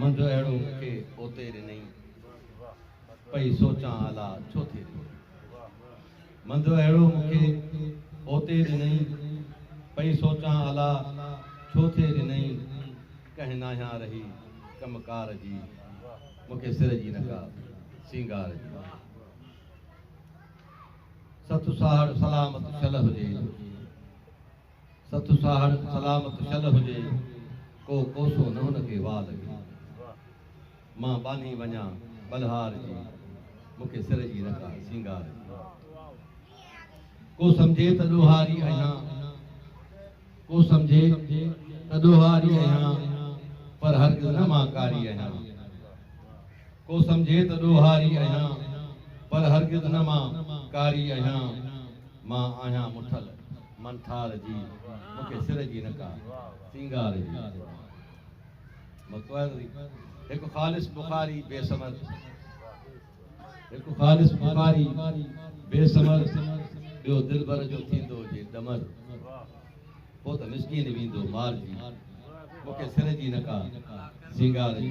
منجهه اهڙو مونکي اوتي رنئي. پئي سوچان الا ڇو ٿي رنئي. منجهه اهڙو مونکي اوتي رنئي. پئي سوچان الا ڇو ٿي رنئي. ڪنهن ناهيان رهي ڪم ڪار جي. مونکي سر جي نه ڪا سينگار جي. سٿ ساهڙ سلامت شل هجي. ست ساهڙ سلامت شل هجي، ڪو ڪوسو نه هن کي واء لڳي. مان ٻانهي وڃان ٻلهار جي، مون کي سر جي نه ڪا سينگار جي. ڪو سمجهي ته ڏوهاري اهيان، ڪو سمجهي ته ڏوهاري اهيان، پر هرگز نه مان ڪاري اهيان. ڪو سمجهي ته ڏوهاري اهيان، پر هرگز نه مان ڪاري اهيان. مان آهيان مٺل من ٿار جي مون کي سر جي نه ڪا سينگار جي قربان مڪوئل هڪ خالص بخاري بي ثمر هڪ خالص بخاري بي ثمر ٻيو دلبر جو ٿيندو جي ڏمر پوء ته مسڪين ويندو مار جي مون کي سر جي نه ڪا سينگار جي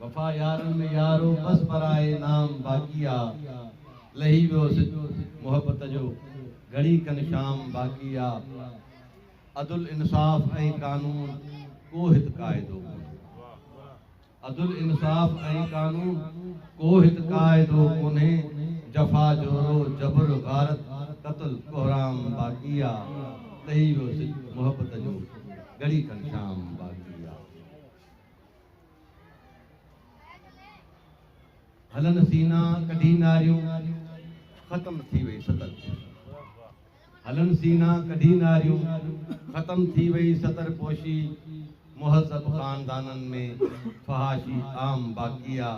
وفا يارن ۾ يار هو بس برائي نام باقي آ لهي ويو سج محبت جو گهڙي کن شام باقي آ عدل انصاف ۽ قانون ڪو هت قاعدو ڪونهي عدل انصاف ۽ قانون ڪو هت قاعدو ڪونهي جفا جورو جبر غارت قتل ڪهرام باقي آ لهي ويو سج محبت جو گهڙي کن شام باقي آ. هلن سينا ڪڍي ناريون ختم ٿي وئي ستر هلن سينا ڪڍي ناريون ختم ٿي وئي ستر پوشي مهذب خاندانن ۾ فحاشي عام باقي آ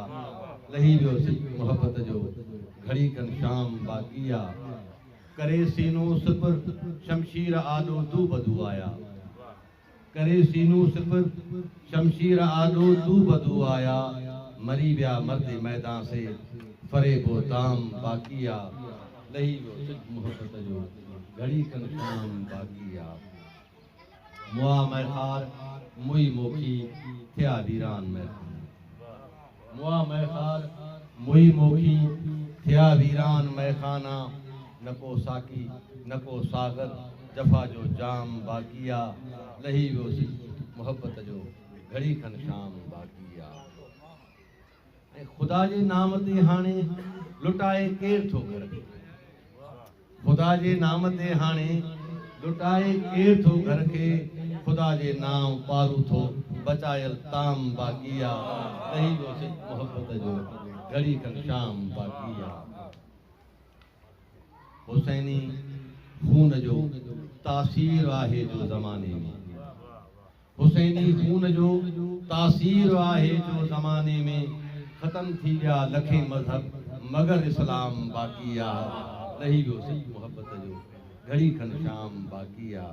لهي ويو سج محبت جو گهڙي کن شام باقي آ ڪري سينو سپر شمشير آڏو دو بدو آيا. ڪري سينو سپر، شمشير آڏو دو بدو آيا، مري ويا مرد ميدان سي، فريب و دام باقي آ، لهي ويو سج محبت جو، گهڙي کن شام باقي آ. مئا مئخار، موئي موکي، ٿيا ويران مئخانا. مئا مئخار مئي موکي، ٿيا ويران مئخانا، نه ڪو ساقي نه ڪو ساغر، جفا جو جام باقي آ، لهي ويو سڄي محبت جو گهڙي کن شام باقي آ. ۽ خدا جي نام تي هاڻي لٽائي ڪير ٿو گهر ۾. خدا جي نام تي هاڻي لٽائي ڪير ٿو گهر کي خدا جي نام پارو ٿو بچايل تام باقي آ ڪهي جو سج محبت جو گهڙي کن شام باقي آ حسيني خون جو تاثير آهي جو زماني ۾. حسيني خون جو تاثير آهي جو زماني ۾ ختم ٿي ويا لکين مذهب مگر اسلام باقي آ لهي ويو سچ محبت جو گهڙي کن شام باقي آ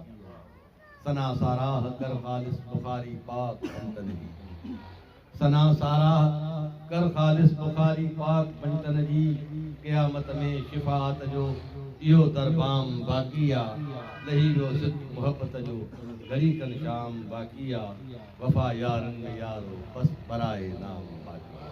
ثنا ساراهه ڪر خالص بخاري پاڪ سنتن جي. ثنا ساراهه ڪر خالص بخاري پاڪ پنڊتن جي قيامت ۾ شفاعت جو اهو تر بام باقي آ لهي ويو صدق محبت جو گهڙي کن شام باقي آ وفا يارن ۾ يار هو بس براء نام باقي آ.